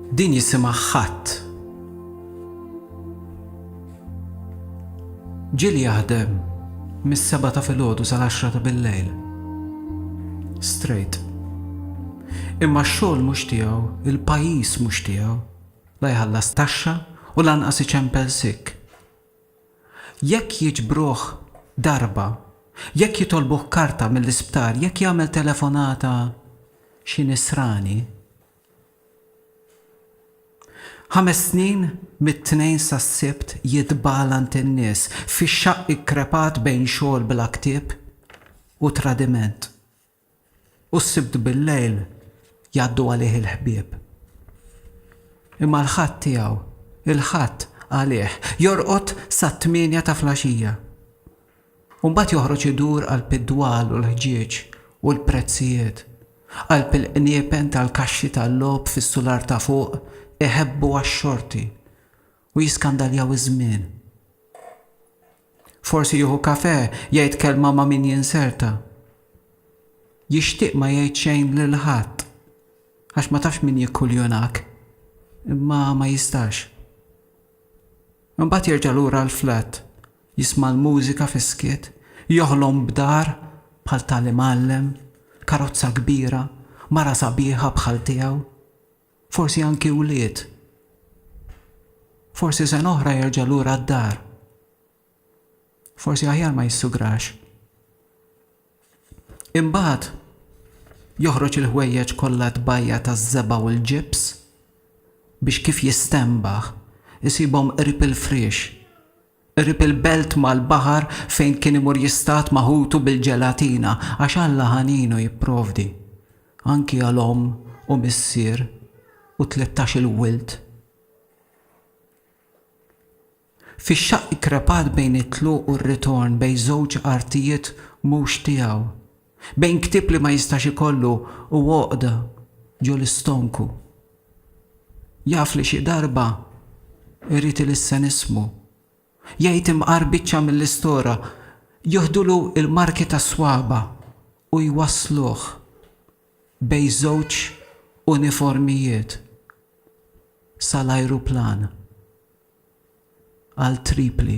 Din jisimha ħadd. Ġieli jaħdem mis-seba' ta' filgħodu sal-għaxra ta' billejl. Straight. Imma x-xogħol mhux tiegħu, il-pajjiż mhux tiegħu. La jħallas taxxa u lanqas iċempel sick. Jekk jiġbruh darba, jekk jitolbuh karta mill-isptar, jekk jagħmel telefonata xi nisrani. Ħames snin mit-Tnejn sas-Sibt jitbalant in-nies fix-xaqq ikkrepat bejn xogħol bla ktieb u tradiment. U s-Sibt bil-lejl jgħaddu għalih il-ħbieb. Imma l-Ħadd tiegħu, il-Ħadd għalih, jorqod sat-tmienja ta' flaxija. U mbagħad joħroġ idur qalb id-dwal u l-ħġieġ u l-prezzijiet, qalb il-qniepen tal-kaxxi tal-logħob fis-sular ta' fuq iħebbu għax-xorti u jiskandaljaw iż-żmien. Forsi jieħu kafè, jgħid kelma ma' min jinserta. Jixtieq ma jgħid xejn lil ħadd għax ma tafx min jikkuljunak, imma ma jistax. Imbagħad jerġa' lura l-flat, jisma' l-mużika fis-skiet, joħlom b'dar bħal tal-imgħallem, karozza kbira, mara sabiħa bħal tiegħu. Forsi anki wlied. Forsi sena oħra jerġa' lura d-dar. Forsi aħjar ma jissugrax. Imbagħad joħroġ il-ħwejjeġ kollha tbajja taż-żebgħa u l-ġibs biex kif jistenbaħ isibhom qrib il-friex Qrib il-belt mal-baħar fejn kien imur jistad ma' ħutu bil-ġelatina għax Alla ħaninu jipprovdi anki għal omm u missier u tlettax-il wild. Fix-xaqq krepat bejn it-tluq u r-ritorn bejn żewġ artijiet mhux tiegħu. Bejn ktieb li ma jistax ikollu u għoqda ġo l-istonku. Jaf li xi darba irid ilissen ismu. Jgħid imqar biċċa mill-istora, joħdulu l-marki tas-swaba' u jwassluh bejn żewġ uniformijiet sal-ajruplan għal Tripli.